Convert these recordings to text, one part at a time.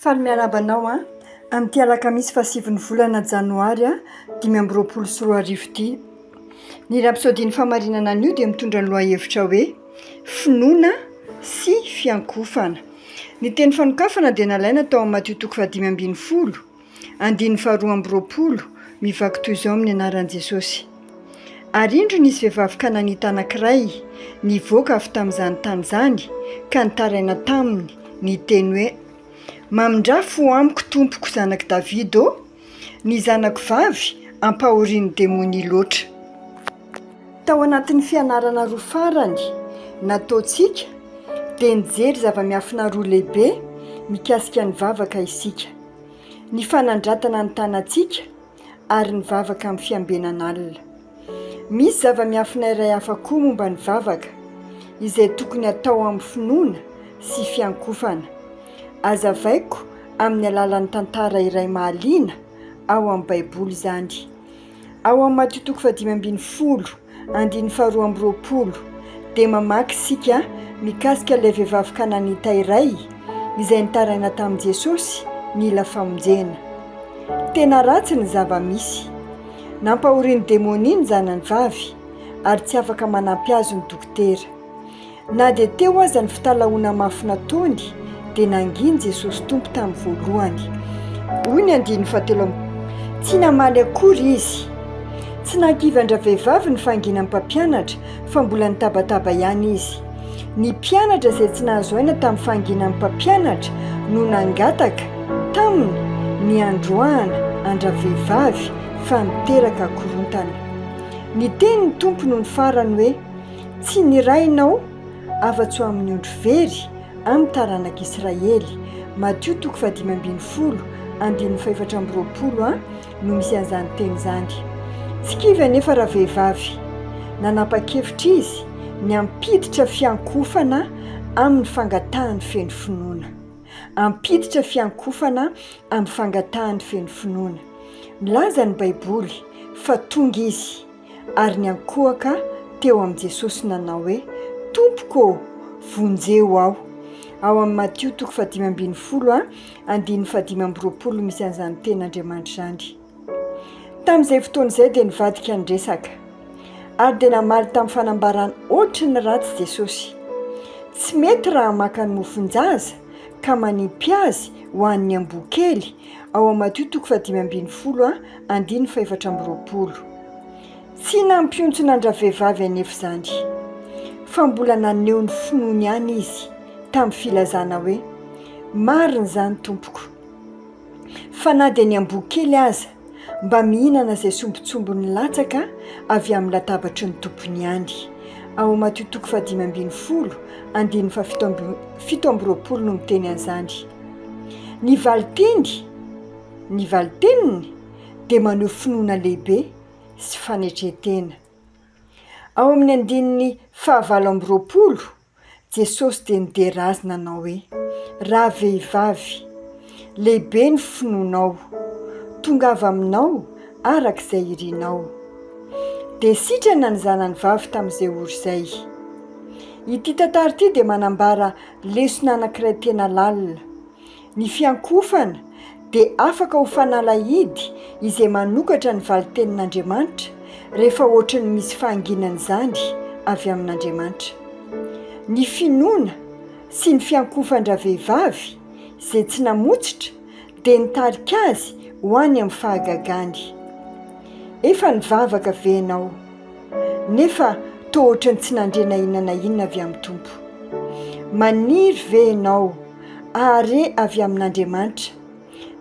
Faly miarahaba anao an! Amin'ity alakamisy fahasivin'ny volana janoary dimy amby roapolo sy roa arivo ity. Ny rapsodian'ny fahamarinana anio dia mitondra ny lohahevitra hoe finoana sy fiankofana. Ny teny fanokafana dia nalaina tao amin'ny Matio toko fahadimy ambin'ny folo. Andininy faharoa amby roapolo, mivaky toy izao amin'ny anaran'i Jesosy, Ary indro nisy vehivavy kananita anankiray nivoaka avy tamin'izany tany izany ka nitaraina taminy, niteny hoe, Mamindrà fo amiko, tompoko, zanak'i Davida ô! Ny zanako vavy ampahorian'ny demonia loatra. Tao anatin'ny fianarana roa farany nataontsika, dia nijery zava-miafina roa lehibe mikasika ny vavaka isika. ny fanandratana ny tanantsika ary ny vavaka amin'ny fiambenan'alina. Misy zava-miafina iray hafa koa momba ny vavaka izay tokony hatao amin'ny finoana sy fiankofana. Azavaiko amin'ny alalan'ny tantara iray mahaliana ao amin'ny Baiboly izany. Ao amin'ny Matio toko fahadimy ambin'ny folo andininy faharoa amby roapolo dia mamaky isika mikasika ilay vehivavy kananita iray izay nitaraina tamin'i Jesosy nila famonjena. Tena ratsy ny zava-misy. Nampahorian'ny demonia ny zanany vavy ary tsy afaka manampy azy ny dokotera. Na dia teo aza ny fitalahoana mafy nataony, dia nanginy Jesosy Tompo tamin'ny voalohany. Hoy ny andininy fahatelo amby roapolo, Tsy namaly akory izy. Tsy nankivy an-dravehivavy ny fahanginan'ny mpampianatra, fa mbola nitabataba ihany izy. Ny mpianatra izay tsy nahazo aina tamin'ny fahanginan'ny mpampianatra no nangataka Taminy ny handroahana an-dravehivavy fa niteraka korontana. Niteny ny Tompo nony farany hoe, Tsy nirahinao afa-tsy ho amin'ny ondry very, amin'ny taranak'Israely. Matio toko fahadimy ambin'ny folo, andininy fahefatra amby roapolo a no misy an'izany teny izany. Tsy kivy anefa ravehivavy. Nanapa-kevitra izy ny hampiditra fiankohofana amin'ny fangatahany feno finoana. Hampiditra fiankohofana amin'ny fangatahany feno finoana. Milaza ny Baiboly fa tonga izy. ary niankohoka teo amin'i Jesosy nanao hoe, Tompoko ô, vonjeo aho. Ao amin'i Matio toko fahadimy ambin'ny folo a, andininy fahadimy amby roapolo no misy an'izany tenin'Andriamanitra izany. Tamin'izay fotoana izay dia nivadika ny resaka, ary dia namaly tamin'ny fanambarana ohatry ny ratsy Jesosy. Tsy mety raha maka ny mofon-jaza ka manipy azy ho an'ny amboa kely, ao amin'i Matio toko fahadimy ambin'ny folo a, Andininy fahefatra amby roapolo. Tsy nampiontsona an-dravehivavy anefa izany, fa mbola naneho ny finoany ihany izy tamin'ny filazana hoe, Marina izany, tompoko, fa na dia ny amboa kely aza mba mihinana izay sombintsombiny latsaka avy amin'ny latabatry ny tompony ihany. Ao Matio toko fahadimy ambin'ny folo, andininy fahafito amby fito amby roapolo no miteny an'izany. Ny valin-teny. Ny valin-teniny dia maneho finoana lehibe sy fanetren-tena. Ao amin'ny andininy fahavalo amby roapolo, Jesosy dia nidera azy nanao hoe, Ravehivavy, lehibe ny finoanao, tongava aminao araka izay irinao. Dia sitrana ny zanany vavy tamin'izay ora izay. Ity tantara ity dia manambara lesona anankiray tena lalina. Ny fiankofana dia afaka ho fanalahidy izay manokatra ny valin-tenin'Andriamanitra rehefa hoatry ny misy fahanginana izany avy amin'Andriamanitra. Ny finoana sy ny fiankofan-dravehivavy izay tsy namotsitra dia nitarika azy ho any amin'ny fahagagany. Efa nivavaka ve ianao? nefa toa ohatran'ny tsy nandre na inona na inona avy amin'ny Tompo. Maniry ve ianao hahare avy amin'Andriamanitra,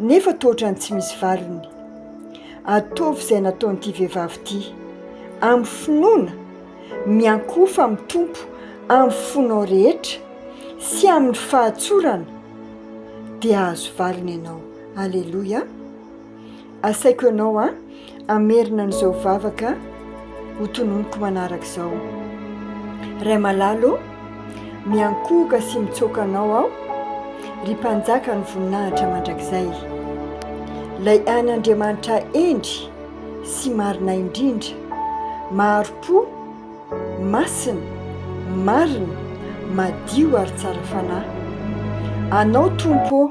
nefa toa ohatran'ny tsy misy valiny? Ataovy izay nataon'ity vehivavy ity, amin'ny finoana, miankohofa amin'ny Tompo amin'ny fonao rehetra sy amin'ny fahatsorana, dia hahazo valiny ianao. Aleloia! Asaiko anao an, hamerina an'izao vavaka ho tononiko manaraka izao. Ray malalo ô, miankohoka sy mitsoaka anao aho, ry mpanjakan'ny voninahitra mandrakizay. Ilay ain'Andriamanitra hendry sy marina indrindra, mahari-po, masina, marina, madio ary tsara fanahy. Anao Tompo ô,